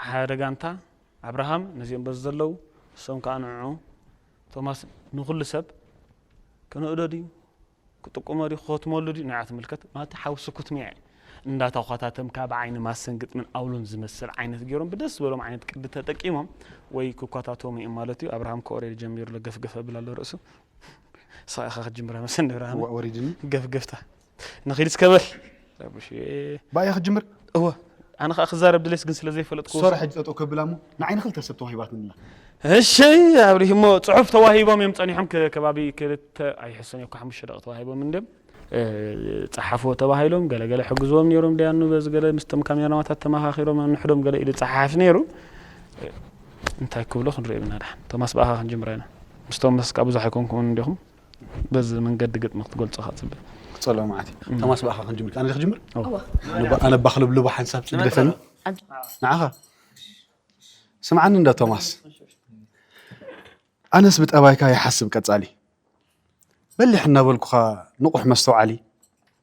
ሓሓደ ጋንታ ኣብርሃም ነዚኦም በዚ ዘለዉ እሶም ከዓ ንዑዑ ቶማስ ንኩሉ ሰብ ክንእዶ ድዩ ክጥቁሞ ድዩ ክኸትመሉ ድዩ ንዓ ትምልከት ማለቲ ሓዊ ስኩትሚዐ እንዳታኳታተምካ ብዓይኒ ማሰን ግጥምን ኣውሎን ዝመስል ዓይነት ገይሮም ብደስ ዝበሎም ዓይነት ቅዲ ተጠቂሞም ወይ ክኳታተሙ እዮም ማለት እዩ ኣብርሃም ከኦሬድ ጀሚሩ ገፍገፍ ኣብል ኣሎ ርእሱ ሳኢኻ ክትጅምራ መሰን ንብርሃነ ገፍገፍታ ንኺድ እስከ በል ረቡሽየ። ብኣያ ክትጅምር? እወ ኣነ ከኣ ክዛረብ ድሌስ ግን ስለ ዘይፈለጥኩ። ሶራ ሕጂ ጠጠው ከብላ እሞ ንዓይ ንኽልተ ሰብ ተዋሂባትኒ ኣላ። እሺ ኣብርሂ እሞ ጽሑፍ ተዋሂቦም እዮም ጸኒሖም ከባቢ ክልተ ኣይሕሰን እኮ ሓሙሽተ ደቂ ተዋሂቦም እንድዮም ጸሓፍዎ ተባሂሎም ገለ ገለ ሕግዝዎም ነይሮም ደያኑ በዚ ገለ ምስቶም ካሜራማታት ተመኻኺሮም ንሕዶም ገለ ኢሉ ጸሓፍ ነይሩ እንታይ ክብሎ ክንሪኦ ኢና ድሓን ቶማስ ብኣኻ ክንጅምራ ኢና ምስቶም መስካ ብዙሕ ኣይኮንኩምን እንዲኹም በዚ መንገዲ ግጥሚ ክትገልጾ ከ ጽብ ክጸሎ መዓት እዩ ተማስ ብኣኻ ክንጅምር ኣነ ክጅምር ኣነ ባክልብልቦ ሓንሳብ ጽግደፈኒ ንዓኻ ስምዓኒ እንዳ ቶማስ ኣነስ ብጠባይካ ይሓስብ ቀጻሊ በሊሕ እናበልኩኻ ንቑሕ መስተውዓሊ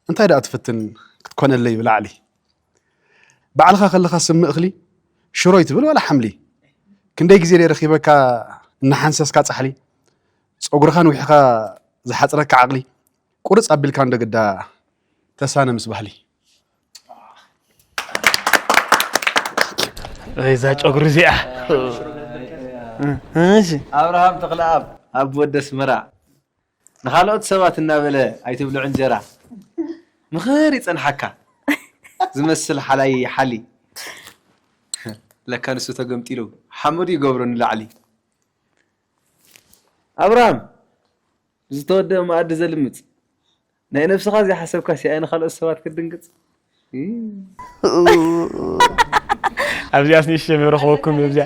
እንታይ ደኣ ትፍትን ክትኮነለይ ብላዕሊ ባዕልኻ ከለኻ ስም እኽሊ ሽሮይ ትብል ዋላ ሓምሊ ክንደይ ግዜ ደይ ረኺበካ እናሓንሰስካ ጻሕሊ ጸጉርኻ ንዊሕኻ ዝሓጽረካ ዓቕሊ ቁርጽ ኣቢልካ እንዶ ግዳ ተሳነ ምስ ባህሊ። እዛ ጨጉሪ እዚኣ እሺ ኣብርሃም ተኽለኣብ ኣብ ወዲ ኣስመራ ንኻልኦት ሰባት እናበለ ኣይትብልዑ እንጀራ ምኽር ይጸንሓካ ዝመስል ሓላይ ይሓሊ ለካ ንሱ ተገምጢሉ ሓመዱ ይገብሮ ንላዕሊ ኣብርሃም ዝተወደበ መኣዲ ዘልምጽ ናይ ነብስኻ ዘይሓሰብካስ ያኢ ንኻልኦት ሰባት ክትድንግጽ ኣብዚኣስ ንእሽተይ መረኽበኩም እዚኣ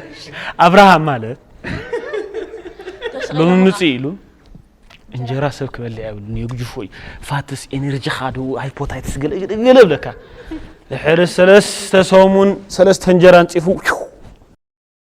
ኣብርሃም ማለት ሎሚ ምጽእ ኢሉ እንጀራ ሰብ ክበልዕ የብሉን የግጅፎ እዩ ፋትስ ኤነርጂኻ ዶ ሃይፖታይትስ ገለገለ ብለካ ድሕሪ ሰለስተ ሰሙን ሰለስተ እንጀራ ንፂፉ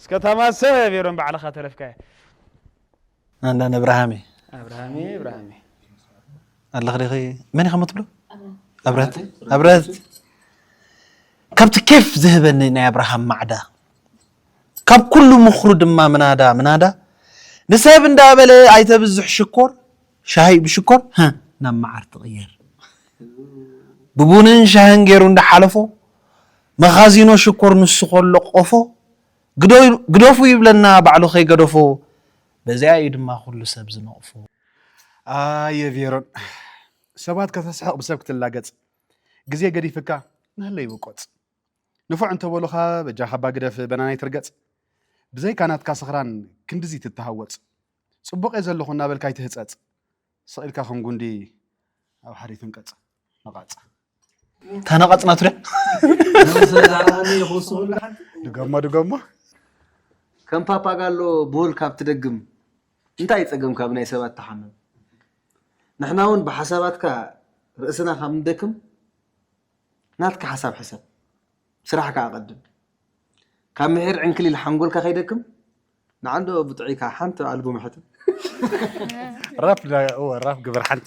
እስከ ታማ ሰብ ሜሮን ባዕልኻ ተረፍካያ። ኣህለን እብራሃሜ ኣብርሃሜ እብራሃሜ። ኣለኺ ዲኺ መን ኢኻ እሞ ትብሎ ኣብረህት ኣብረህት ካብቲ ኬፍ ዝህበኒ ናይ ኣብርሃም ማዕዳ ካብ ኩሉ ምኽሩ ድማ ምናዳ ምናዳ ንሰብ እንዳበለ ኣይተብዝሕ ሽኮር ሻሂ ብሽኮር ህ ናብ መዓር ትቕየር ብቡንን ሻህን ገይሩ እንዳሓለፎ መኻዚኖ ሽኮር ንሱ ከሎ ቆፎ ግደፉ ይብለና ባዕሉ ከይገደፎ በዚኣ እዩ ድማ ኩሉ ሰብ ዝነቕፎ። ኣየ ቬሮን ሰባት ከተስሕቕ ብሰብ ክትላገጽ ግዜ ገዲፍካ ንህለ ይውቆጽ ንፉዕ እንተበሉኻ በጃኻ እባ ግደፍ በናና ኣይትርገጽ ብዘይካ ናትካ ስኽራን ክንድዚ ትተሃወጽ ጽቡቕ እየ ዘለኹ እናበልካ ኣይትህጸጽ ስቕ ኢልካ ከም ጉንዲ ኣብ ሓደ ትንቀፅ ነቓፅ ተነቐፅ ናቱ ድገሞ ድገሞ ከም ፓፓጋሎ ብሁል ካብ ትደግም እንታይ ፀገም ካብ ናይ ሰባት ተሓምም ንሕና እውን ብሓሳባትካ ርእስና ካብ ንደክም ናትካ ሓሳብ ሕሰብ ስራሕካ ኣቐድም ካብ ምሒር ዕንክሊል ሓንጎልካ ከይደክም ንዓንዲ ኦብ ጥዒካ ሓንቲ ኣልቡም ሕተም። ራፕ ናይ እወ ራፕ ግበር ሓንቲ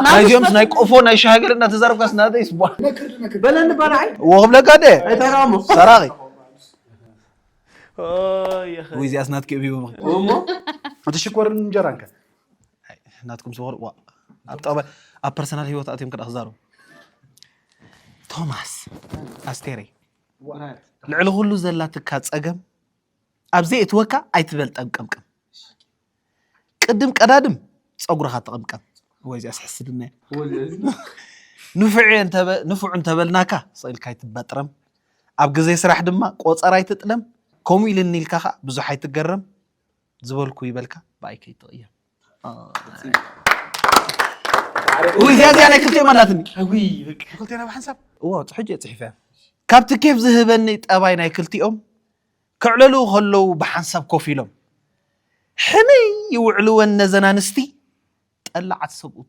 ናይዚኦምስ ናይ ቆፎ ናይ ሻሃገር እናተዛረብካስ ናተይስ ቧ በለኒ ባልዓይ እዎ ክብለካ ደ ኣይታራሞ ሰራቂ ወይ እዚኣስ ናትኪ እብ ሂቦም እሞ እቲ ሽኮርን እንጀራን ከ ናትኩም ዝኮር ዋ ኣብ ጠባይ ኣብ ፐርሰናል ሂወት ኣትዮም ክዳ ክዛረቡ ቶማስ ኣስቴረይ ልዕሊ ኩሉ ዘላትካ ጸገም ኣብ ዘይእትወካ ኣይትበልጠም ቀምቀም ቅድም ቀዳድም ፀጉርኻ ተቐምቀም ወይ እዚኣ ስሕስድና ንፉዕ እንተበልናካ ስኢልካ ኣይትበጥረም ኣብ ግዜ ስራሕ ድማ ቆፀር ኣይትጥለም ከምኡ ኢልኒ ኢልካ ከዓ ብዙሕ ኣይትገረም ዝበልኩ ይበልካ ብኣይ ከይትቕየም ውይ እዚኣ እዚኣ ናይ ክልቲኦም ኣላትኒ ውይ በቃ ክልቴና ብሓንሳብ እዎ ሕጂ እየ ፅሒፈ ካብቲ ኬፍ ዝህበኒ ጠባይ ናይ ክልቲኦም ከዕለሉ ከለዉ ብሓንሳብ ኮፍ ኢሎም ሕምይ ይውዕልወን ነዘን ኣንስቲ ጠላዓት ሰብኡት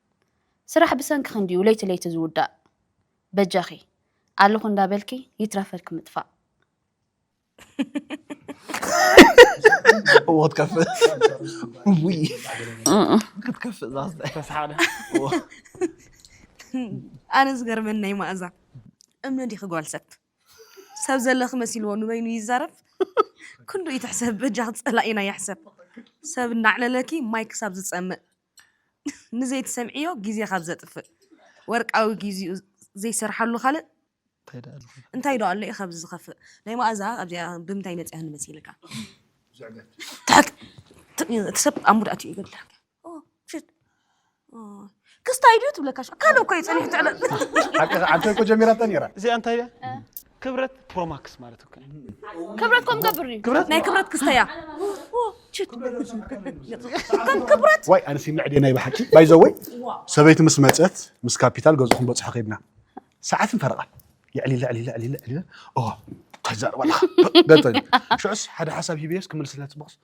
ስራሕ ብሰንክኺ እንድዩ ለይቲ ለይቲ ዝውዳእ በጃኺ ኣለኹ እንዳበልኪ ይትረፈልኪ ምጥፋእ እዎ ትከፍእ ውይ ክትከፍእ ዛስ ተስሓለ ኣነ ዝገርመን ናይ ማእዛ እምኒ ዲኺ ጓል ሰብ ሰብ ዘለኺ መሲልዎ ንበይኑ ይዛረብ ክንዱ እዩ ትሕሰብ በጃኺ ፀላኢና ይሕሰብ ሰብ እናዕለለኪ ማይ ክሳብ ዝፀምእ ንዘይትሰምዕዮ ግዜ ካብ ዘጥፍእ ወርቃዊ ጊዚኡ ዘይሰርሓሉ ካልእ እንታይ ዶ ኣሎ እዩ ካብዚ ዝኸፍእ ናይ መኣዛ ኣብዚኣ ብምንታይ መጽያ ንመሲልካ እቲ ሰብ ኣብ ሙድ ኣትዩ ይገድለካ ክስታይ ድዩ ትብለካ ካልእ እኮ እዩ ፀኒሑ ትዕለ ሓቂ ዓንተ እኮ ጀሚራታ ነይራ እዚኣ እንታይ እያ ክብረት ፕሮማክስ ማለት እኮ እዩ። ክብረት ከም ገብር እዩ ክብረት ናይ ክብረት ክስተያ ከም ክብረት ዋይ ኣነሲ ምዕዴ ናይ ብሓቂ ባይዘወይ ሰበይቲ ምስ መፀት ምስ ካፒታል ገዝኡ ክንበፅሖ ከይድና ሰዓትን ፈረቓን ልዕሊ ልዕሊ ልዕሊ ልዕሊ ኦ ተዛረብ ኣለኻ ገጠ ሽዑስ ሓደ ሓሳብ ሂብየስ ክምልስላ ፅቡቕስ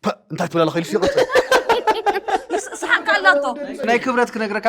ፐ እንታይ ትብላ ኣለኻ ኢሉስ ይቕፅል ስሓንካ ኣላቶ ናይ ክብረት ክነግረካ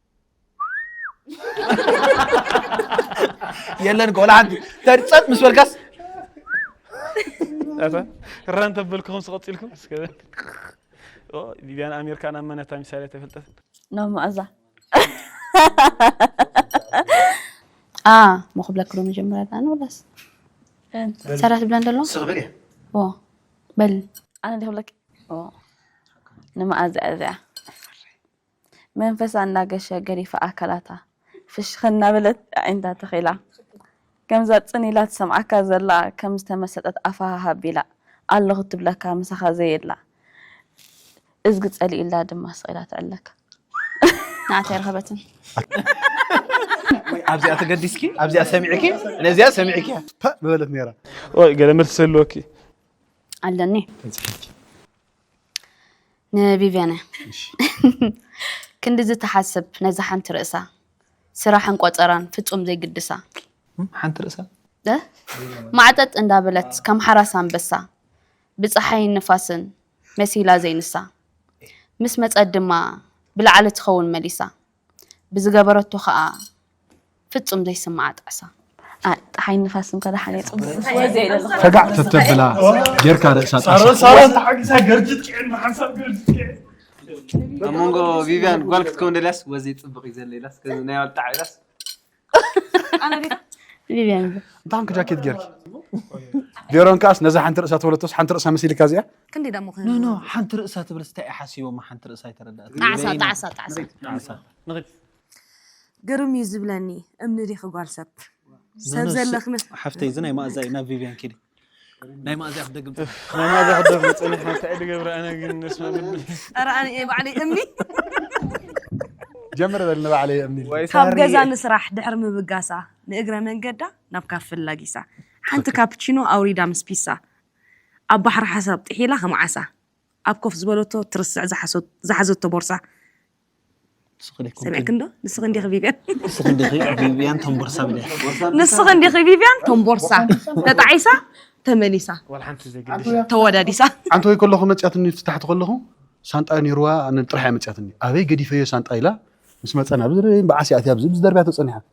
የለን እኮ ወላ ሓንቲ እንተ ፀጥ ምስ በልካስ ኣታ ራ እንተበልኩኹም ስቐፂልኩም እስከ ኦ ቢቢያን ኣሜሪካ ናብ መነታ ሚሳይል ኣይተፈልጠት ናብ መኣዛ ኣ ሞ ክብለክሎ መጀመርያ ዳኣነ ወላስ ሰራት ብለን ደሎ ስቕ በል እየ ኦ በል ኣነ ዲክብለክ ኦ ንመኣዛ እያ እዚኣ መንፈሳ እናገሸ ገዲፋ ኣካላታ ፍሽኽ እናበለት ኣዒንታ ተኺላ ከምዛ ጽን ኢላ ትሰምዓካ ዘላ ከም ዝተመሰጠት ኣፋ ሃሃ ኣቢላ ኣለኹ ትብለካ ምሳኻ ዘየላ እዝጊ ጸሊኡላ ድማ ስቕ ኢላ ትዕለካ ንዓት ኣይረኸበትን። ኣብዚኣ ተገዲስኪ ኣብዚኣ ሰሚዕኪ ነዚኣ ሰሚዕኪ ፐእ ምበለት ነይራ። ወይ ገለ መልሲ ህልወኪ ኣለኒ። ንቪቪያነ ክንድዚ ትሓስብ ነዛ ሓንቲ ርእሳ ስራሕን ቆፀራን ፍፁም ዘይግድሳ ሓንቲ ርእሳ ማዕጠጥ እንዳበለት ከም ሓራስ ኣንበሳ ብፀሓይን ንፋስን መሲላ ዘይንሳ ምስ መፀት ድማ ብላዕሊ ትኸውን መሊሳ ብዝገበረቶ ከኣ ፍጹም ዘይስምዓ ጣዕሳ። ጸሓይን ንፋስን ከ ደሓን የጽብቡ። ፈጋዕ ተተብላ ጌርካ ርእሳ ጣዕሳ። ኣብ መንጎ ቪቭያን ጓል ክትከውን ደልያስ ወዘይ ጽብቅ እዩ ዘሎ ኢላስ ከዚ ናይ ባል ጣዕሳ ኢላስ። ቪቪያን እንታይ ኮንክ ጃኬት ጌርኪ ቬሮን ከዓስ ነዛ ሓንቲ ርእሳ ተበለቶስ ሓንቲ ርእሳ መሲልካ እዚኣ ክንደይ ደሞ ኖ ኖ ሓንቲ ርእሳ ትብልስ እንታይ እዩ ሓሲቦማ ሓንቲ ርእሳ ኣይተረዳእት ጣዕሳ ጣዕሳ ጣዕሳ ጣዕሳ ግርም እዩ ዝብለኒ እምኒ ዲኺ ጓል ሰብ ሰብ ዘለኽነ ሓፍተይ እዚ ናይ ማእዛ እዩ ናብ ቪቪያን ኪዲ ናይ ማእዚያ ክደግም ጽኒሐ እፍ ናይ ማዛ ክደግም ጸኒሐ እንታይ ድገብር ኣነ ግን ነስመ ልቢ ኧረ ኣነ እየ ባዕለይ እምኒ ጀምር በል ንባዕለይ እየ እምኒ ወይ ካብ ገዛ ሳርየ ንስራሕ ድሕሪ ምብጋሳ ንእግረ መንገዳ ናብ ካፈ ኣላጊሳ ሓንቲ ትኽክል ካፕቺኖ ኣውሪዳ ምስ ፒሳ ኣብ ባሕሪ ሓሳብ ጥሒላ ከም ዓሳ ኣብ ኮፍ ዝበለቶ ትርስዕ ዝሓሶ ዝሓዘቶ ቦርሳ ሰሚዕክን ዶ ንስኽን ዲኺ ቪቭያን ንስኽን ዲኺ ቪቭያን ተምቦርሳ ብለያ ንስኽን ዲኺ ቪቭያን ተምቦርሳ ተጣዒሳ ተመሊሳ ተወዳዲሳ ሓንቲ ወይ ከለኹ መፅያትኒ ፍታሕቲ ከለኹ ሳንጣ ነይርዋ ጥራሕ እያ መፅያትኒ ኣበይ ገዲፈዮ ሳንጣ ኢላ ምስ መፀና ብዓስ እያ ኣብዚ ብዝደርብያ ተፀኒሓ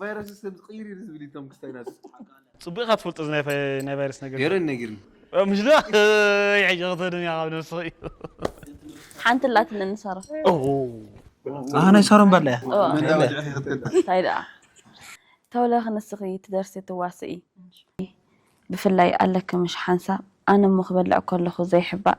ቫይረስ ስም ዝቕይር እዩ ዝብል እቶም ክስታይ ናቱ ጽቡቅ ኢኻ ትፈልጦ እዚ ናይ ቫይረስ ነገር ገረን ነጊርኒ ምሽ ዶ ይሕጂ ክትድም ኢኻ ኣብ ነብስኺ ሓንቲ ኣላት ንንሳሮ ናይ ሳሮን ባላ እያ እንታይ ደኣ ተውለኺ ንስኺ ትደርሲ ትዋስኢ ብፍላይ ኣለኪ ምሽ ሓንሳብ ኣነ እሞ ክበልዕ ከለኹ ዘይሕባእ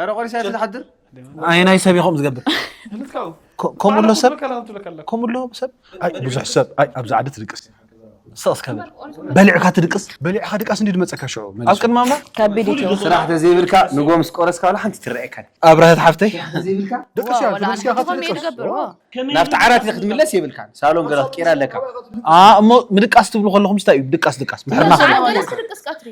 ኧረ ቆሪሳ እያ ትሓድር ኣየናይ ሰብ ኢኹም ዝገብር ከምኡ ኣሎ ሰብ ከምኡ ኣሎ ሰብ ኣይ ብዙሕ ሰብ ኣይ ኣብዚ ዓዲ ትድቅስ ስቕስ ከብል በሊዕካ ትድቅስ በሊዕካ ድቃስ እንዲ ድመፀካ ሽዑ ኣብ ቅድሚ ኣምላኽ ከቢድ እዩ ስራሕ ተዘይብልካ ንጎ ምስ ቆረስካ ዋላ ሓንቲ ትረኣየካ ኣብረሀት ሓፍተይ ደቅስ እያ ዋላ ትድቅስ እያ ኣንሕቲ ካብ ኮም እየ ትድቅስ ዝገብር ዎ ናብቲ ዓራት ኢኻ ክትምለስ የብልካን ሳሎን ገለ ክትቅይር ኣለካ ኣ እሞ ምድቃስ ትብሉ ከለኹም ስታይ እዩ ድቃስ ድቃስ ምሕርና ከ ሰዓት ገለ ስርቅስ ቀትሪ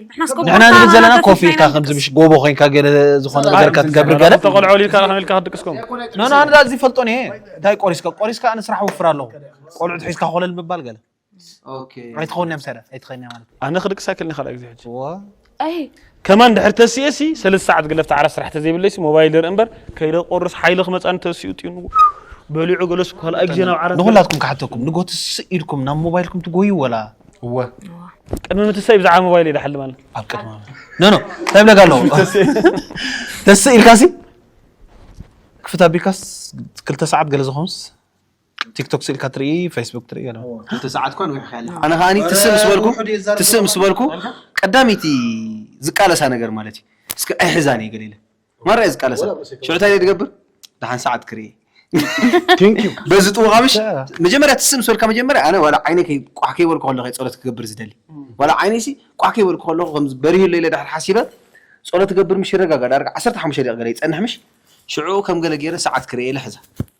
ንሕና ንብል ዘለና ኮፍ ኢልካ ከምዚ ምሽ ጎቦ ኮንካ ገለ ዝኾነ ነገር ከትገብር ገለ ተቆልዑ ኢልካ ንሕና ኢልካ ክትድቅስኩም ኖ ኖ ኣነ እዛ እዚ ፈልጦን እየ እንታይ ቆሪስካ ቆሪስካ ኣነ ስራሕ ወፍር ኣለኹ ቆልዑት ሒዝካ ኮለል ምባል ገለ ኣይትኸውንያ ምሳዳ ኣይትኸንያ ማለት ኣነ ክድቂ ሳይክል ኒ ካልኣ ግዜ ሕጂ ከማን ድሕር ተስኤ ሲ ሰለስተ ሰዓት ግለፍ ተዓራ ስራሕ ተዘይብለይ ሲ ሞባይል ርኢ እምበር ከይደ ቆርስ ሓይሊ ክመፃኒ ተስኡ ጥዩ በሊዑ ገለሱ ካልኣ ግዜ ናብ ዓራት ንኹላትኩም ክሓተኩም ንጎቲ ስእ ኢልኩም ናብ ሞባይልኩም ትጎዩ ወላ እወ ቅድሚ ምትሳይ ብዛዕባ ሞባይል እየ ድሓልም ኣለ ኣብ ቅድሚ ኖ ኖ እንታይ ብለጋ ኣለዎ ተስእ ኢልካ ሲ ክፍት ኣቢልካስ ክልተ ሰዓት ገለ ዝኾንስ ቲክቶክ ስኢልካ ትርኢ ፌስቡክ ትርኢ ገለ ክልተ ሰዓት እኳ ንዊሕካ ኣለካ ኣነ ከዓኒ ትስእ ምስ በልኩ ውሑድ እየ ዝዛረብ ትስእ ምስ ዘለኹ። በልኩ ኣልካ? ቀዳመይቲ ዝቃለሳ ነገር ማለት እዩ እስኪ ኣይሕዛን እየ ገለ ኢለ ማራ እየ ዝቃለሳ ሽዑ እንታይ እየ ዝገብር ደሓን ሰዓት ክርኢ Thank you. በዚ ጥውኻ ምሽ መጀመርያ ትስእ ምስ በልካ መጀመርያ ኣነ ዋላ ዓይነ ከይ- ቋሕ ከይበልኩ ከለኹ እየ ጸሎት ክገብር ዝደሊ ዋላ ዓይነይሲ ቋሕ ከይበልኩ ከለኹ ከምዚ በሪሁ ኣሎ ኢለ ድሕር ሓሲበ ጸሎት ክገብር ምሽ ይረጋጋእ ዳርጋ 15 ደቂቕ ገለ ይጸንሕ ምሽ ሽዑ ከም ገለ ገይረ ሰዓት ክርኢ ኢለ ሕዛ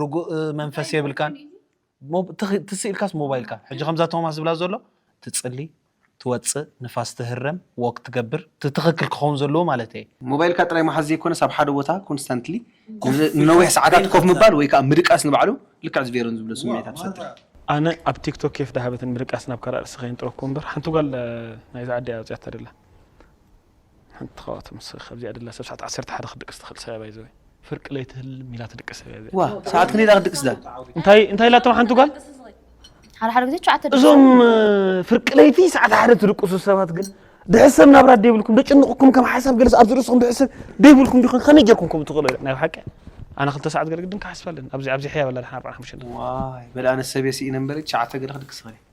ርጉእ መንፈስ የብልካን ሞ- ትኽ- ትስእ ኢልካስ ሞባይልካ ሕጂ ከምዛ ቶማስ ዝብላ ዘሎ ትጽሊ ትወጽእ ንፋስ ትህረም ዎክ ትገብር እቲ ትኽክል ክኸውን ዘለዎ ማለት እየ ሞባይልካ ጥራይ ምሓዝ ዘይኮነስ ኣብ ሓደ ቦታ ኮንስታንትሊ ንነዊሕ ሰዓታት ኮፍ ምባል ወይ ከኣ ምድቃስ ንባዕሉ ልክዕ እዚ ቬሮን ዝብሎ ስምዒታት ይፈጥር። ኣነ ኣብ ቲክቶክ ኬፍ ዳሃበትን ምድቃስ ናብ ካልእ ኣርእስቲ ከየንጥረኩ እምበር ሓንቲ ጓል ናይዛ ዓዲ እያ ኣውጺኣታ ደላ ሓንቲ ካብኣቶም ንስኺ ካብዚኣ ደላ ሰብ ሰዓት ዓሰርተ ሓደ ክትድቅስ ትኽእል ሰብ እያ ባይዘወይ ፍርቂ ለይቲ ህልም ኢላ ትድቅስ ሰብ እያ እዚኣ ዋ ሰዓት ክንደይ ኢላ ክትድቅስ እዛ እንታይ እንታይ ኢላቶም ሓንቲ ጓል ሓደ ሓደ ግዜ ሸዓተ እዞም እ፣ ፍርቂ ለይቲ ሰዓት ሓደ ትድቅሱ ሰባት ግን ድሕሰብ ናብራ ደይብልኩም ደጭንቕኩም ከም ሓሳብ ገለስ ኣብዚ ርእስኹም ድሕሰብ ደይብልኩም ዲኹም ከመይ ጌርኩም ከምኡ ትኽእሉ ናይ ሓቂ ኣነ ክልተ ሰዓት ገለ ግድን ክሓስብ ኣለኒ ኣብዚ ኣብዚ ሕያብ ኣላ ድሓን ኣርባዕን ሓሙሽተን ዋይ በል ኣነ ሰብየ ስኢነ እምበር ሸዓተ ገለ ክድቅስ ይኽእል እየ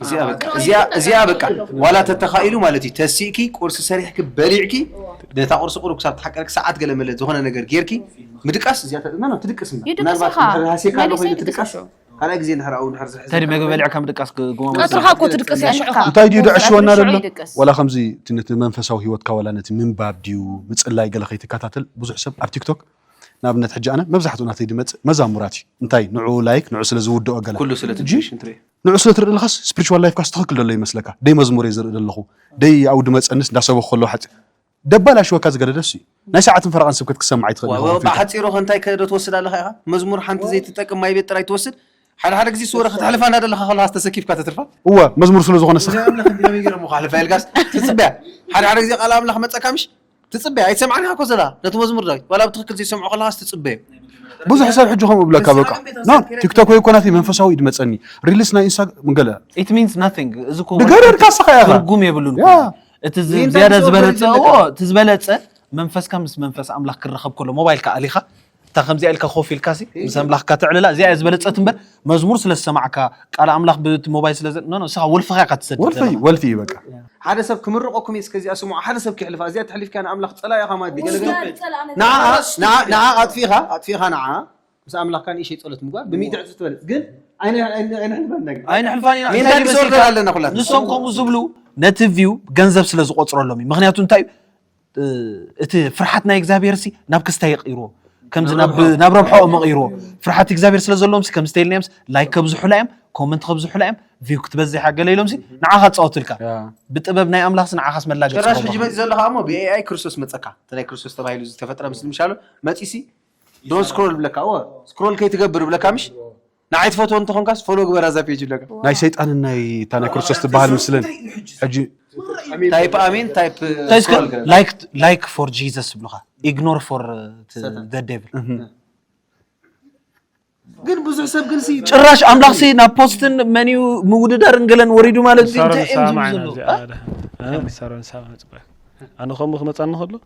እዚኣ በቃ እዋይ፣ እዚኣ ይቅጠር፣ እዚኣ በቃ ይቅጠር፣ ይቅጠር። ዋላ ተተኻኢሉ ማለት እዩ ተሲእኪ ቁርሲ ሰሪሕኪ በሊዕኪ ነታ ቁርሲ ቁሩብ ክሳብ ትሓቀርኪ ሰዓት ገለ መለ ዝኾነ ነገር ጌርኪ ምድቃስ እዚኣ ተ- ኖ፣ ኖ፣ ትድቅስ እምበር ይድቅስ ምናልባት ኢኻ። እንድሕር ሃሲካ ኣለኹ መሊሰ ኢሉ ይድቅስ ትድቃስ እሾ። ካልኣይ ግዜ እንድሕር ኣብኡ እንድሕር ዝሕዝ ተዲ መግቢ በሊዕካ ምድቃስ ግዋም ቀትርኻ እኮ ትድቅስ እያ ሽዑ ኸኣ። እንታይ ድዩ ደዕሽወና ሽዑ ዘሎ ይድቅስ። ዋላ ከምዚ እቲ ነቲ መንፈሳዊ ሂወትካ ዋላ ነቲ ምንባብ ድዩ ምጽላይ ገለ ከይትከታተል ብዙሕ ሰብ ኣብ ቲክቶክ ንኣብነት ሕጂ ኣነ መብዛሕትኡ ናተይ ድመጽእ መዛሙራት እዩ እንታይ ንዑ ላይክ ንዑ ስለ ዝውድኦ ገለ ኩሉ ስለ ሕጂ ትብሽን ትርኢ ንዑ ስለ ትርኢ ለኻስ ስፕሪቹዋል ላይፍካስ ትኽክል ደሎ ይመስለካ ደይ መዝሙር እየ ዝርኢ ደለኹ ደይ ኣብኡ ድመጸንስ እንዳሰበኹ ከለኹ ሓጺ ደባላሽወካ ዝገለ ደስ እዩ ናይ ሰዓትን ፈረቓን ስብከት ክትሰምዕ ኣይትኽእልን ኢኻ ዋው ኮምፒውተር ብሓጺሩ ከ እንታይ ከ ዶ ትወስድ ኣለኻ ኢኻ መዝሙር ሓንቲ ዘይትጠቅም ማይ ቤት ጥራይ ትወስድ ሓደ ሓደ ግዜ ስወረ ከተሕልፋ እንዳደለኻ ከለኻስ ተሰኪፍካ ተትርፋ እወ መዝሙር ስለ ዝኾነ ስኽ እዚኣ ኣምላኽ እንዲና መይ ገይሮም እኮ ኣሕልፋ ኢልካስ ትጽበያ ሓደ ሓደ ግዜ ቃል ኣምላኽ መጸካ ምሽ ትጽበያ ኣይትሰምዓንካ እኮ ዘላ ነቲ መዝሙር ዳዊት ዋላ ብትክክል ዘይሰምዖ ከለካስ ትጽበዮ ብዙሕ ሰብ ሕጂ ከምኡ ይብለካ በቃ ኖ ቲክቶክ ወይ ኮናት መንፈሳዊ ኢድ መጸኒ ሪልስ ናይ ኢንስታ ገለ ኢት ሚንስ ናቲንግ እዚ እኮ ንገረድ ካሳኻ ኢኻ። ትርጉም የብሉን ያ። እቲ ዝ- ይህን ዝያዳ ታሪክ ዝበለጸ ዝወበረ እዎ፣ እቲ ዝበለጸ መንፈስካ ምስ መንፈስ ኣምላኽ ክራኸብ ከሎ ሞባይልካ ኣሊኻ እታ ከምዚኣ ኢልካ ኮፍ ኢልካ ሲ ምስ ኣምላኽካ ተዕልላ እዚኣ እያ ዝበለጸት እምበር መዝሙር ስለ ዝሰማዕካ ቃል ኣምላኽ ብቲ ሞባይል ስለ ኖ ኖ ንስኻ ወልፍኻ ኢኻ ትሰድድ ወልፊ ዘለኻ ወልፊ እዩ በቃ ሓደ ሰብ ክምርቐኩም እዩ እስከ እዚኣ ስምዑ ሓደ ሰብ ከሕልፋ እዚኣ ተሕሊፍካ ንኣምላኽ ጸላኢ ኢኻ ማለት ድዩ ገለ ገለ ውዳድ ጸላእ ነዛ ንዓኣ ጓል Stupid ንዓ- እያ። ንዓኣ ኣጥፊእኻ ኣጥፊእኻ ንዓኣ ምስ ኣምላኽካ ንእሽተይ ጸሎት ምግባር ብሚእቲ ዕጽፊ ትበልጽ ግን ኣይነ- ኣይነ- ኣይነሕልፋን ነገር ኣይንሕልፋን ኢና ሜንታል እንታይ ዲስኦርደር ይመስልካ ኣለና ኩላትና ንሶም ከምኡ ዝብሉ ነቲ ቪው ገንዘብ ስለ ዝቆጽረሎም እዩ ምክንያቱ እንታይ እዩ እቲ ፍርሓት ናይ እግዚኣብሄርሲ ናብ ክስታይ ይቕይርዎ ከምዚ ናብ ረብሐኦ መቕይርዎ ፍርሓት እግዚኣብሄር ስለ ዘለዎምሲ ከምዚ ተይልናዮምሲ ላይክ ከብዝሑላ እዮም ኮመንት ከብዝሑላ እዮም ቪው ክትበዝሕ እያ ገለ ኢሎምሲ ንዓኻ ጻወቱልካ ብጥበብ ናይ ኣምላኽሲ ንዓኻስ መላገጺ ጭራሽ ሕጂ መጺ ዘለኻ እሞ ብኤኣይ ክርስቶስ መጸካ እቲ ናይ ክርስቶስ ተባሂሉ ዝተፈጥረ ምስሊ ምሻሉ መጺሲ ዶን ስክሮል ብለካ እወ ስክሮል ከይትገብር ብለካ ምሽ ንዓይ ትፈትዎ እንተኾንካስ ፎሎ ግበር ኣዛ ፔጅ ኣለካ ናይ ሰይጣንን ናይ እታ ናይ ክርስቶስ ትበሃል ምስልን ሕጂ ታይፕ ኣሚን ታይፕ እንታይ እስከ ፎል ገለ። ላይክ ላይክ ፎር ጂዘስ ይብሉኻ ኢግኖር ፎር ዘ ዴቭል ግን ብዙሕ ሰብ ግን ሲ ጭራሽ ኣምላኽ ሲ ናብ ፖስትን መንዩ ምውድዳርን ገለን ወሪዱ ማለት እዩ ንሳሮን እንታይ እዮም ዝብሉ ንሰማዕ ኢና ዘለዉ እዚኣ ኣለ ንሳሮን ንሰማዕ ንፅበ ኣነ ከምኡ ክመፃኒ ከሎ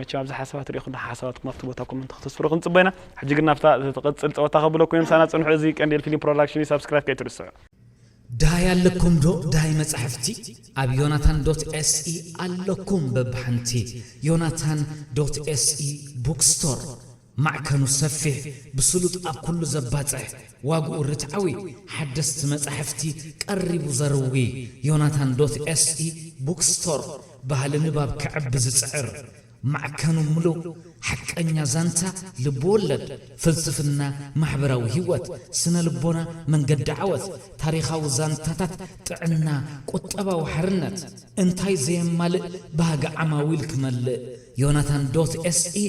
መቸም ኣብዛ ሓሳባ ትሪኢኹና ሓሳባትኩም ኣብቲ ቦታ ኮመንት ከተስፍሩ ክንጽበ ኢና ሕጂ ግን ናብታ ትቕጽል ጸወታ ከብለኩም ምሳና ጽንሑ እዚ ቀንዴል ፊልም ፕሮዳክሽን እዩ ሳብስክራይብ ከይትርስዑ ዳይ ኣለኩም ዶ ዳይ መጻሕፍቲ ኣብ ዮናታን ዶት ኤስኢ ኣለኩም በብሓንቲ ዮናታን ዶት ኤስኢ ቡክስቶር ማዕከኑ ሰፊሕ፣ ብስሉጥ ኣብ ኩሉ ዘባጽሕ፣ ዋግኡ ርትዓዊ፣ ሓደስቲ መጻሕፍቲ ቀሪቡ ዘርዊ፣ ዮናታን ዶት ኤስኢ ቡክ ስቶር፣ ባህሊ ንባብ ከዕቢ ዝጽዕር፣ ማዕከኑ ምሉእ፣ ሓቀኛ ዛንታ፣ ልብ-ወለድ፣ ፍልስፍና፣ ማሕበራዊ ህይወት፣ ስነ-ልቦና፣ መንገዲ ዓወት፣ ታሪኻዊ ዛንታታት፣ ጥዕና፣ ቁጠባዊ ሓርነት፣ እንታይ ዘየማልእ ባህጊ ዓማዊል ክመልእ፣ ዮናታን ዶት ኤስኢ፣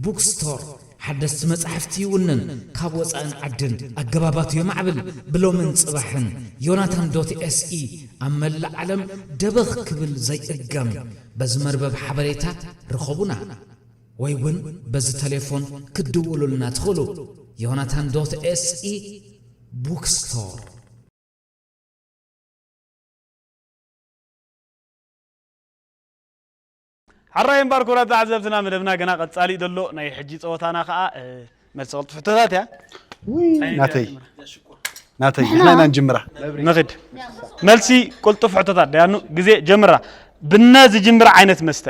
ቡክ ስቶር ሓደስቲ መጻሕፍቲ ይውንን፣ ካብ ወጻእን ዓድን ኣገባባቱ የማዕብል፣ ብሎምን ጽባሕን ዮናታን ዶት ኤስኢ ኣብ መላእ ዓለም ደበኽ ክብል ዘይእገም፣ በዚ መርበብ ሓበሬታ ርኸቡና ወይ ውን በዚ ተሌፎን ክትድውሉልና ትኽእሉ፣ ዮናታን ዶት ኤስኢ ቡክ ስቶር። ሐራይ እምባር ኩብራት ተዓዘብትና መደብና ገና ቀጻሊ'ዩ ዘሎ ናይ ሕጂ ጸወታና ከኣ መልሲ ቅልጡፍ ሕቶታት እያ። ውይ ናተይ ናተይ ንሕና ኢና ንጅምራ። ንኺድ መልሲ ቅልጡፍ ሕቶታት ደያኑ ግዜ ጀምራ። ብነ ዝጅምር ዓይነት መስተ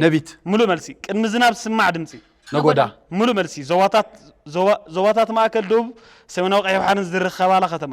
ነቢት ምሉእ መልሲ። ቅድሚ ዝናብ ዝስማዕ ድምጺ ነጎዳ። ምሉእ መልሲ። ዞባታት ዞባ ዞባታት ማእከል፣ ደቡብ፣ ሰሜናዊ ቀይሕ ባሕርን ዝርከባላ ከተማ።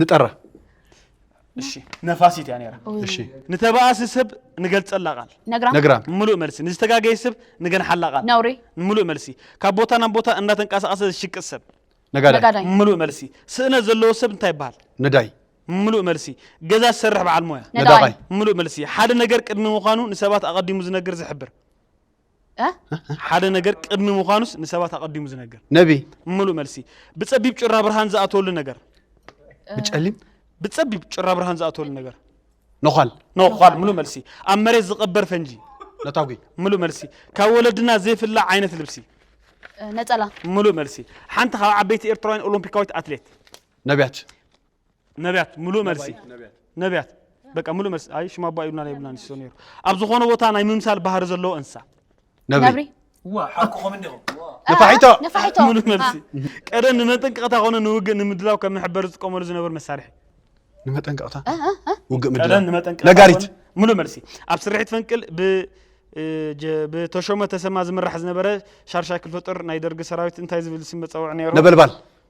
ንጠራ እሺ ነፋሲት እያ ነራ እሺ ንተባእሲ ሰብ ንገልጸላ ቃል ነግራም ነግራም ምሉእ መልሲ ንዝተጋገየ ሰብ ንገንሓላ ቃል ነውሪ ምሉእ መልሲ ካብ ቦታ ናብ ቦታ እንዳተንቀሳቐሰ ዝሽቅጥ ሰብ ነጋዳይ ነጋዳይ ምሉእ መልሲ ስእነት ዘለዎ ሰብ እንታይ ይበሃል ነዳይ ምሉእ መልሲ ገዛ ዝሰርሕ በዓል ሞያ ነዳቓይ ነዳቓይ ምሉእ መልሲ ሓደ ነገር ቅድሚ ምዃኑ ንሰባት ኣቐዲሙ ዝነግር ዝሕብር ሓደ ነገር ቅድሚ ምዃኑስ ንሰባት ኣቐዲሙ ዝነግር ነቢ ምሉእ መልሲ ብጸቢብ ጭራ ብርሃን ዝኣተወሉ ነገር ብጨሊም ብጸቢብ ጭራ ብርሃን ዝኣተወሉ ነገር ነዃል ነዃል ምሉእ መልሲ ኣብ መሬት ዝቐበር ፈንጂ ነታጒ ምሉእ መልሲ ካብ ወለድና ዘይፍላዕ ዓይነት ልብሲ ነጸላ ምሉእ መልሲ ሓንቲ ካብ ዓበይቲ ኤርትራውያን ኦሎምፒካዊት ኣትሌት ነቢያት ነብያት ምሉእ መልሲ ነብያት በቃ ምሉእ መልሲ ኣይ ሽማ ኣቦ ኣይብሉናን ኣይብሉናን ይስቶ ነይሩ ኣብ ዝኾነ ቦታ ናይ ምምሳል ባህሪ ዘለዎ እንስሳ ነብሪ ነፋሒቶ ነፋሒቶ ምሉእ መልሲ ቀደም ንመጠንቀቕታ ኮነ ንውግእ ንምድላው ከም መሕበሪ ዝጥቀመሉ ዝነበሩ መሳርሒ ንመጠንቀቕታ ውግእ ቀደም ምድላው ንመጠንቀቕታ ነጋሪት ኮነ- ምሉእ መልሲ ኣብ ስርሒት ፈንቅል ብ እ፣ ጀ- ብተሾመ ተሰማ ዝምራሕ ዝነበረ ሻርሻይ ክፍለ ጦር ናይ ደርጊ ሰራዊት እንታይ ዝብል ስም መፀውዒ ነይሩ ነበልባል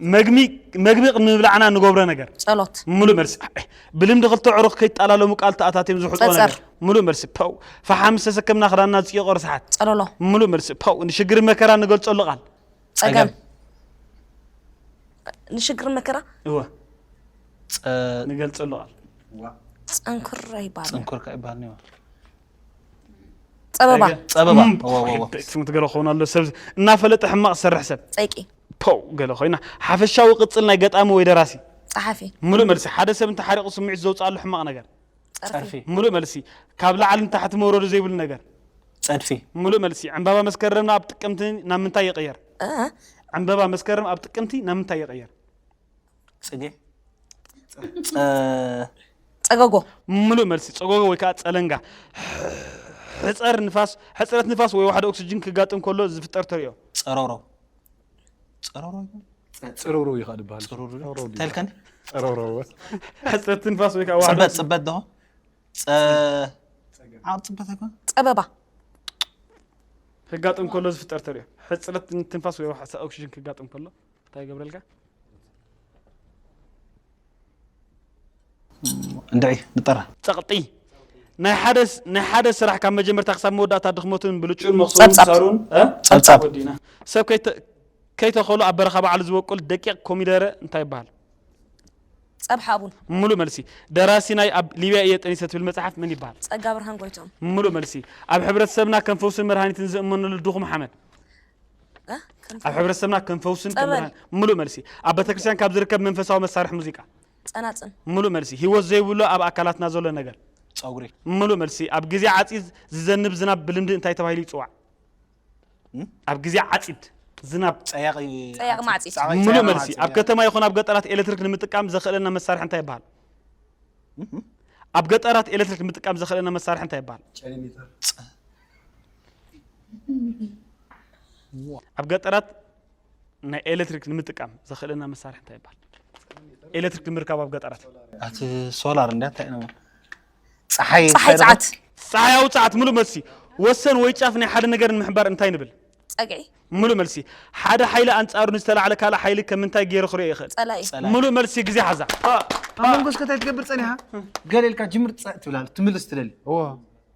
መግቢ መግቢ ቅድሚ ምብላዕና ንገብሮ ነገር ጸሎት ምሉእ መልሲ ብልምዲ ክልተ ዕሩኽ ከይጣላለሙ ቃል ተኣታትዮም ዝውሕጥዎ ጸጸር። ነገር ምሉእ መልሲ ፐው ፈሓም ምስ ተሰከምና ክዳንና ዝጭየቆ ርስሓት ጸሎሎ ምሉእ መልሲ ፐው ንሽግር መከራ ንገልጸሉ ቃል ጸገም ንሽግር መከራ እወ ጸ- ንገልጸሉ ቃል ጸንኩር ኣይባል ጽንኩር ከ ይበሃል ነይሩ ጸበባ ጸበባ ስሙ ገለ ክኸውን ኣሎ ሰብ እናፈለጠ ሕማቕ ዝሰርሕ ሰብ ጸይቂ ፖው ገለ ኮይና ሓፈሻዊ ቅጽል ናይ ገጣሚ ወይ ደራሲ ጸሓፊ ምሉእ መልሲ ሓደ ሰብ እንተሓሪቑ ስምዒት ዘውፅኣሉ ሕማቕ ነገር ጸርፊ ምሉእ መልሲ ካብ ላዕሊ ንታሕቲ መውረዱ ዘይብሉ ነገር ጸድፊ ምሉእ መልሲ ዕምባባ መስከረም ኣብ ጥቅምቲ ናብ ምንታይ ይቕየር እ ዕምባባ መስከረም ኣብ ጥቅምቲ ናብ ምንታይ ይቕየር ፅጌ ፀገጎ ምሉእ መልሲ ፀጎጎ ወይ ከዓ ፀለንጋ ሕፀር ንፋስ ሕፅረት ንፋስ ወይ ዋሕዲ ኦክስጅን ክጋጥም ከሎ ዝፍጠር ተሪኦ ፀሮሮ ፀሮሮ ፅሩሩ እዩ ካእ ድበሃል ተልከን ፀሮሮ ሕፅረት ንፋስ ወይ ከዓ ዋሕዲ ፅበት ፅበት ዶ ዓር ፅበት ኣይኮነ ፀበባ ክጋጥም ከሎ ዝፍጠር ተሪኦ ሕፅረት ትንፋስ ወይ ዋሕዲ ኦክስጅን ክጋጥም ከሎ እንታይ ይገብረልካ እንድዒ ንጠራ ጸቕጢ ናይ ሓደ ናይ ሓደ ስራሕ ካብ መጀመርታ ክሳብ መወዳእታ ድኽመቱን ብልጩን መኽሰቡን ጸብጻብ። ሳሩን እ? ጸብጻብ። ወዲእና ሰብ ከይተ- ከይተኸሉ ኣብ በረኻ ባዕሉ ዝበቁል ደቂቕ ኮሚደረ እንታይ ይበሃል ጸብሐ ኣቡን ምሉእ መልሲ ደራሲ ናይ ኣብ ሊብያ እየ ጠኒሰ ትብል መጽሓፍ መን ይበሃል ጸጋ ብርሃን ጎይትኦም ምሉእ መልሲ ኣብ ሕብረተሰብና ከም ፈውስን መድሃኒትን ዝእመነሉ ድኹም ሓመድ ኣብ ሕብረተሰብና ከም ፈውስን ከም ጸበል። ብርሃን ምሉእ መልሲ ኣብ ቤተክርስትያን ካብ ዝርከብ መንፈሳዊ መሳርሒ ሙዚቃ ጸናጽን ምሉእ መልሲ ህይወት ዘይብሉ ኣብ ኣካላትና ዘሎ ነገር ፀጉሪ ምሉእ መልሲ ኣብ ግዜ ዓፂድ ዝዘንብ ዝናብ ብልምዲ እንታይ ተባሂሉ ይፅዋዕ እም? ኣብ ግዜ ዓፂድ ዝናብ ፀያቂ ፀያቂ ማዕፂድ። ፀያቂ ምሉእ ማዕፂድ፣ መልሲ ኣብ ያ። ከተማ ይኹን ኣብ ገጠራት ኤሌክትሪክ ንምጥቃም ዘኽእለና መሳርሒ እንታይ ይበሃል ኣብ ገጠራት ኤሌክትሪክ ንምጥቃም ዘኽእለና መሳርሒ እንታይ ይበሃል ጨሊሜተር ኣብ ገጠራት ናይ ኤሌክትሪክ ንምጥቃም ዘኽእለና መሳርሒ እንታይ ይባሃል? ኤሌክትሪክ ንምርካብ ኣብ ገጠራት ኣቲ ሶላር እንዳ እንታይ ነው ፀሓይ ፀሓይ ፀዓት ፀሓያዊ ፀዓት ሙሉእ መልሲ። ወሰን ወይ ጫፍ ናይ ሓደ ነገር ንምሕባር እንታይ ንብል? ፀግዒ ሙሉእ መልሲ። ሓደ ሓይሊ ኣንጻሩ ንዝተላዕለ ካልእ ሓይሊ ከም ምንታይ ገይሩ ክሪኦ ይኽእል? ፀላኢ ሙሉእ መልሲ ግዜ ሓዛ። ኣብ መንጎ እስከ እንታይ ትገብር ፀኒሓ ገለ ኢልካ ጅምር ፀእ ትብል ኣላ ትምልስ ትደሊ እዎ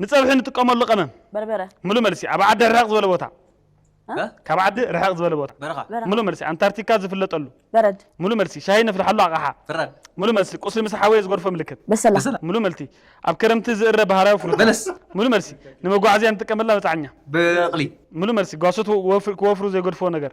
ንጸብሒ ንጥቀመሉ ቀመም በርበረ ምሉ መልሲ ኣብ ዓዲ ርሕቕ ዝበለ ቦታ እ? ካብ ዓዲ ርሕቕ ዝበለ ቦታ በረኻ በረኻ። ምሉ መልሲ ኣንታርክቲካ ዝፍለጠሉ በረድ ምሉ መልሲ ሻሂ ነፍልሓሉ ኣቕሓ ፍራን ምሉ መልሲ ቁስሊ ምስ ሓወየ ዝጎርፎ ምልክት በሰላ በሰላ ምሉ መልቲ ኣብ ክረምቲ ዝእረ ባህላዊ ፍሩታ በለስ ምሉ መልሲ ንመጓዓዝያ ንጥቀመላ መጻዕኛ በቕሊ ምሉ መልሲ ጓሶት ወፍሪ- ክወፍሩ ዘይገድፍዎ ነገር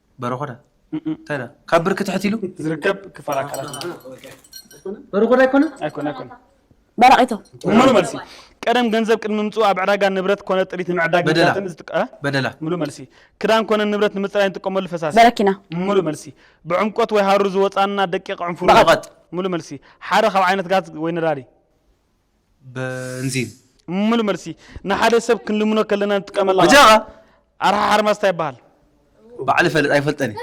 በረኾዳ እንታይ ድኣ ካብ ብርኪ ትሕት ኢሉ ዝርከብ ክፋል ኣካላት በረኾዳ ኣይኮነን ኣይኮነ ኣይኮነ በራቂቶ ሙሉ መልሲ ቀደም ገንዘብ ቅድሚ ምምፅኡ ኣብ ዕዳጋ ንብረት ኮነ ጥሪት ንምዕዳግ በደላ። ምዳጥን ዝጥቀ በደላ ሙሉ መልሲ ክዳን ኮነ ንብረት ንምፅራይ ንጥቀመሉ ፈሳሲ በረኪና ሙሉ መልሲ ብዕምቆት ወይ ሃሩር ዝወፃና ደቂቕ ዕንፉሩር በቐቐጥ ሙሉ መልሲ ሓደ ካብ ዓይነት ጋዝ ወይ ነዳዲ በንዚን ሙሉ መልሲ ንሓደ ሰብ ክንልምኖ ከለና ንጥቀመላ ቃል በጃኻ ኣርሓ ሓርማዝ እንታይ ይበሃል? ባዕሊ ፈልጥ ኣይፈልጠን እየ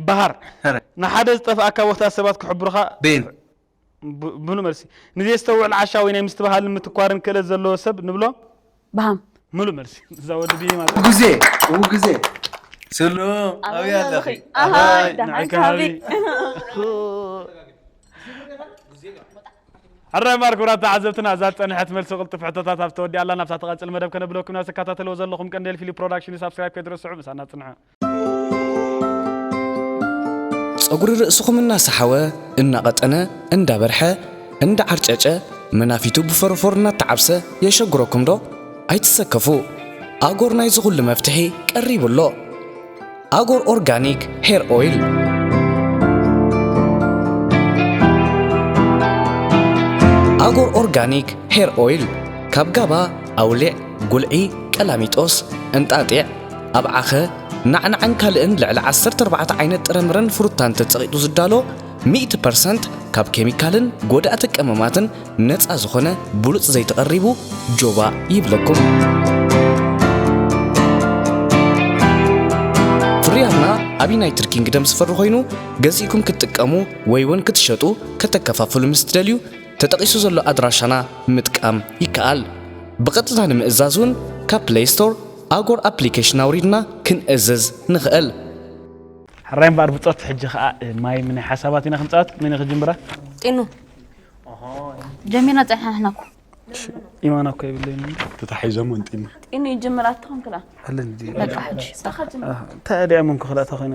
በሃር ኧረ ንሓደ ዝጠፍኣካ ቦታ ሰባት ክሕብሩኻ ቤን ብ- ሙሉ መልሲ ንዘየስተውዕል ዓሻ ወይ ናይ ምስትብሃልን ምትኳርን ክእለት ዘለዎ ሰብ ንብሎ ብሃም ምሉእ መልሲ እዛ ወዲ ብሂም ኣላ ውግዜ ውግዜ ስሉ ኣብይ ኣለኺ ኣሃይ ንዓይ ከባቢ ሕራይ ማር ክብራት ተዓዘብትና እዛ ዝፀንሐት መልሲ ቅልጡፍ ሕቶታት ኣብ ተወዲኣ ኣላ ናብታ ትቐፅል መደብ ከነብለኩም ኢና ተከታተልዎ ዘለኹም ቀንዴል ፊልም ፕሮዳክሽን እዩ ሳብስክራይብ ከይትረስዑ ምሳና ፅንሑ ጸጉሪ ርእስኹም እናሰሓወ፣ እናቐጠነ፣ እንዳበርሐ፣ እንዳዓርጨጨ፣ መናፊቱ ብፎሮፎር እናተዓብሰ የሸግረኩም ዶ? ኣይትሰከፉ ኣጎር ናይዚ ኩሉ መፍትሒ ቀሪቡ ኣሎ። ኣጎር ኦርጋኒክ ሄር ኦይል ኣጎር ኦርጋኒክ ሄር ኦይል ካብ ጋባ፣ ኣውሊዕ፣ ጉልዒ፣ ቀላሚጦስ፣ እንጣጢዕ፣ ኣብ ዓኸ፣ ናዕናዕን ካልእን ልዕሊ ዓሰርተ ኣርባዕተ ዓይነት ጥረምረን ፍሩታን ተጸቒጡ ዝዳሎ ሚእቲ ፐርሰንት ካብ ኬሚካልን ጎዳእቲ ቀመማትን ነጻ ዝኾነ ብሉጽ ዘይቲ ቀሪቡ ጆባእ ይብለኩም። ኣብ ዩናይትድ ኪንግደም ዝፈሪ ኮይኑ ገዚእኩም ክትጥቀሙ ወይ እውን ክትሸጡ ከተከፋፍሉ ምስ ትደልዩ ተጠቒሱ ዘሎ ኣድራሻና ምጥቃም ይከኣል። ብቐጥታ ንምእዛዝ እውን ካብ ፕሌይ ስቶር ኣጎር ኣፕሊኬሽን ኣውሪድና ክንእዝዝ ንኽእል። ሕራይ እምበኣር ብጾት ሕጂ ከኣ ማይ ምነ ሓሳባት ኢና ክንጻወት መን ክጅምራ ጢኑ ጀሚርና ጸኒሕና ንሕና እኮ ኢማና እኮ የብለይን ተታሒዞም እንጢኑ ጢኑ ይጅምር ኣትኾን ክላ በቃ ሕጂ እንታይ ደኣ መንኩ ክላእታ ኮይነ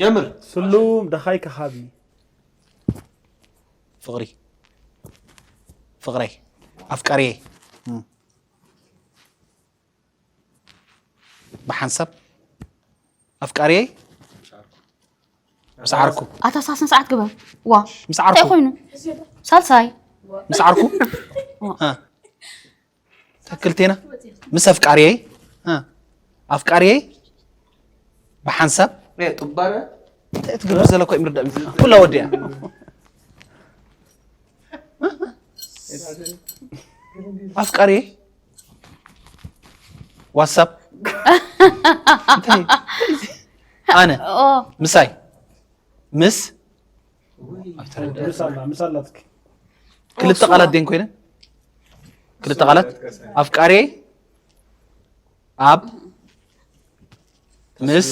ጀምር ስሉም ደኻይ ከሃቢ ፍቕሪ ፍቕረይ ኣፍቃሪየይ ብሓንሳብ ኣፍቃሪየይ ምስ ዓርኩ ኣታ ሳስ ንስዓት ግበር ዋ ምስ ዓርኩ ኮይኑ ሳልሳይ ምስ ዓርኩ ትክክል ቴና ምስ ኣፍቃሪየይ እ፣ ኣፍቃሪየይ ብሓንሳብ ናይ ጥባረ እንታይ ትገብር ዘለኮ እዩ ምርዳእ እዩ። ኩላ ወዲያ ኣፍቃሪየይ ዋትሳፕ እንታይ እዩ? ኣነ ኦ ምሳይ ምስ ክልተ ቃላት ደን ኮይነን ክልተ ቃላት ኣፍቃሬ ኣብ ምስ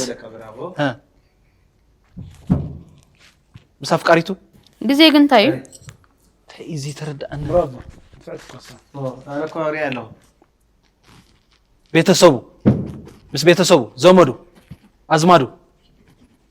ምስ ኣፍቃሪቱ ግዜ ግን እንታይ እዩ እዚ ተረዳእኒ ቤተሰቡ ምስ ቤተሰቡ ዘመዱ ኣዝማዱ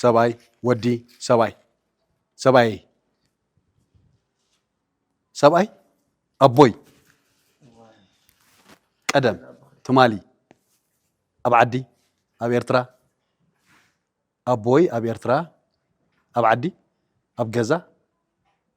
ሰብኣይ ወዲ ሰብኣይ ሰብኣየይ ሰብኣይ ኣቦይ ቀደም ትማሊ ኣብ ዓዲ ኣብ ኤርትራ ኣቦይ ኣብ ኤርትራ ኣብ ዓዲ ኣብ ገዛ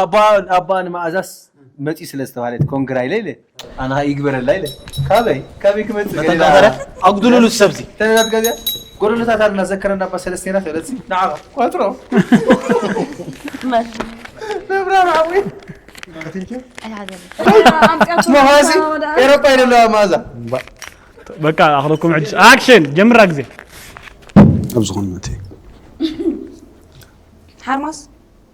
ኣባ ኣባ ንመኣዛስ መጺኡ ስለ ዝተባህለ ኮንግራ ኢለ ኢለ ኣና ይግበረላ ኢለ ካበይ ካበይ ክመጽእ መጠን ገሊላ ቃተረት ኣጉድሉሉ እቲ ሰብዚ ተነዳት ጋዝያ ጎደሎታት ኣልና ዘከረና ኣባ ሰለስቴና ተለጺ ንዓኻ ኳትሮ መርት ነብራ መዓወይ መሃዚ ኤሮፓ ይደለዋ መኣዛ በቃ ኣኽለኩም ሕጂ ኣክሽን ጀምራ ግዜ ኣብ ዝኾነ መእተዩ ሓርማስ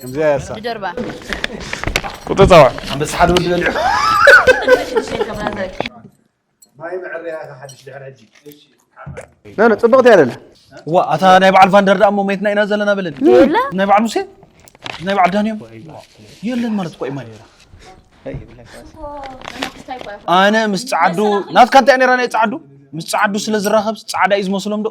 ከምዚኣ እያ እሳ ብጀርባ ቁጥሪ ጸዋዕ ኣንበሳ ሓደ ወዲ በሊዑ ማይ መዐረያ ኢኻ ሓድሽ ድሕሪ ሕጂ ኖ ኖ ጽብቕቲ እያ ደላ ዋ ኣታ ናይ በዓል ቫንደር ደኣ እሞ መየትና ኢና ዘለና በለኒ የለ። ናይ በዓል ሙሴ ናይ በዓል ዳንዮም የለን ማለት እኮ እዩ ማይ ኣነ ምስ ጸዓዱ ናትካ እንታይ እያ ነይራ ናይ ጸዓዱ ምስ ጸዓዱ ስለ ዝራኸብስ ጻዕዳ እዩ ዝመስሎም ዶ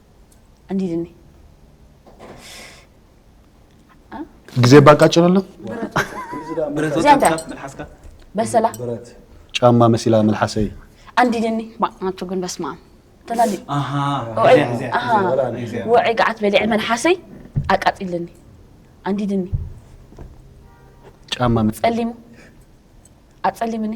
እንዴት ነህ? ጊዜ ባቃጭረለም በሰላ ጫማ መሲላ መልሓሰይ አንዲ ደኒ ናቸው ግን በስማ ተላሊ ውዕይ ገዓት በሊዐ መልሓሰይ አቃጢልኒ አንዲ ደኒ ጫማ ጸሊሙ አጸሊምኒ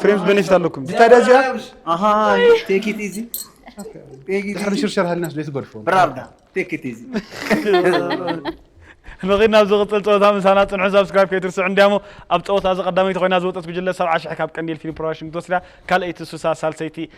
ፍሬንድ ቤኔፊት ኣለኩም ታዲያ እዚኣ ኣሃ ቴክ ኢት ኢዚ ቴክ ኢት ድሕሪ ኢዚ ሽርሸር ሃልናስ ዶ ትገድፎ ብራርዳ ቴክ ኢት ኢዚ ንኺድ ናብ ዝቕፅል ፀወታ ምሳና ፅንሑ ሳብስክራይብ ከይትርስዑ እንዲያሞ ኣብ ፀወታ እዚ ቀዳመይቲ ኮይና ዝወፀት ጉጅለ ሰብዓ ሽሕ ካብ ቀንዴል ፊልም ፕሮዳክሽን ክትወስዳ ካልኣይቲ ሱሳ ሳልሰይቲ